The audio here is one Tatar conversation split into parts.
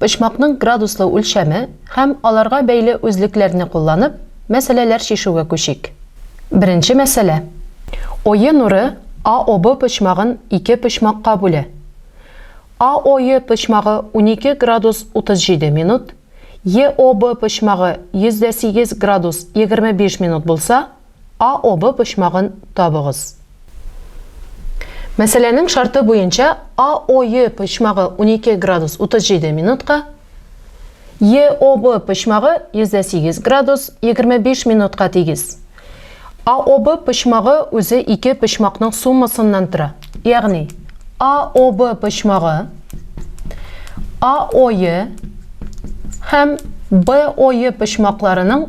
Почмакның градуслы үлчәме һәм аларга бәйле үзлекләрне кулланып, мәсьәләләр чишүгә күчик. Беренче мәсьәлә. Ое нуры АОБ почмагын ике почмакка бүлә. АОе почмагы унике градус утыз җиде минут, ЕОБ почмагы йөз дә сигез градус егерме биш минут булса, А обы почмагын табыгыз. Мәсьәләнең шарты буенча А ое почмагы 12 градус 37 минутка, Е обы почмагы 108 градус 25 минутка тигез. А обы почмагы үзе ике почмакның суммасыннан тора. Ягъни А обы почмагы А ое һәм Б ое почмакларының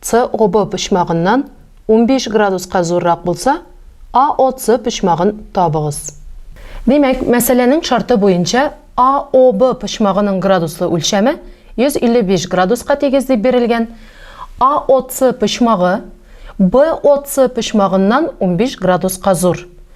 С обы почмагыннан унбиш градуска зуррак булса, АОС почмагын табыгыз. Димәк, мәсьәләнең шарты буенча АОБ почмагының градуслы үлчәме 155 градуска тигез дип бирелгән, АОС почмагы БОС почмагыннан унбиш градуска зур.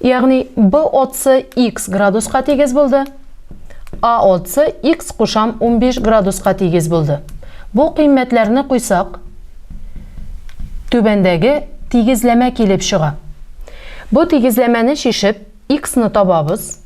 Ягъни B отсы X градуска тигез булды, A отсы X кушам 15 градуска тигез булды. Бу кыйммәтләрне куйсак, түбәндәге тигезләмә килеп чыга. Бу тигезләмәне чишеп, X ны табабыз.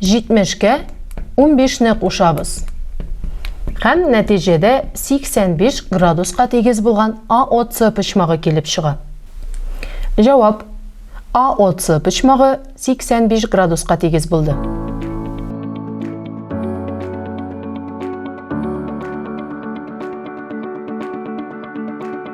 70 кә унбиш не кушабыз һәм нәтиҗәдә 85 градуска тигез булган АОЦ почмагы килеп чыга. Җавап, АОЦ почмагы 85 градуска тигез булды.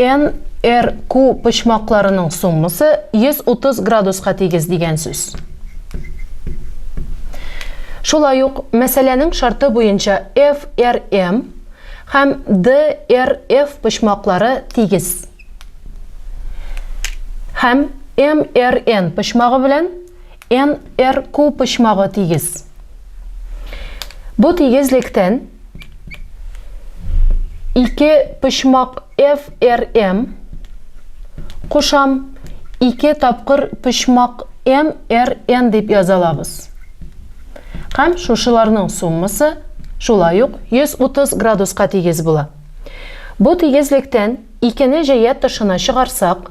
НРК почмакларының суммасы 130 градуска тигез дигән сүз. Шулай ук мәсьәләнең шарты буенча ФРМ һәм ДРФ почмаклары тигез. Һәм МРН почмагы белән НРКУ почмагы тигез. Бу тигезлектән ике почмак ФРМ кушам, ике тапкыр почмак МРН дип яза алабыз. Һәм шушыларның суммасы шулай ук 130 градуска тигез була. Бу тигезлектән икене җәя тышына чыгарсак,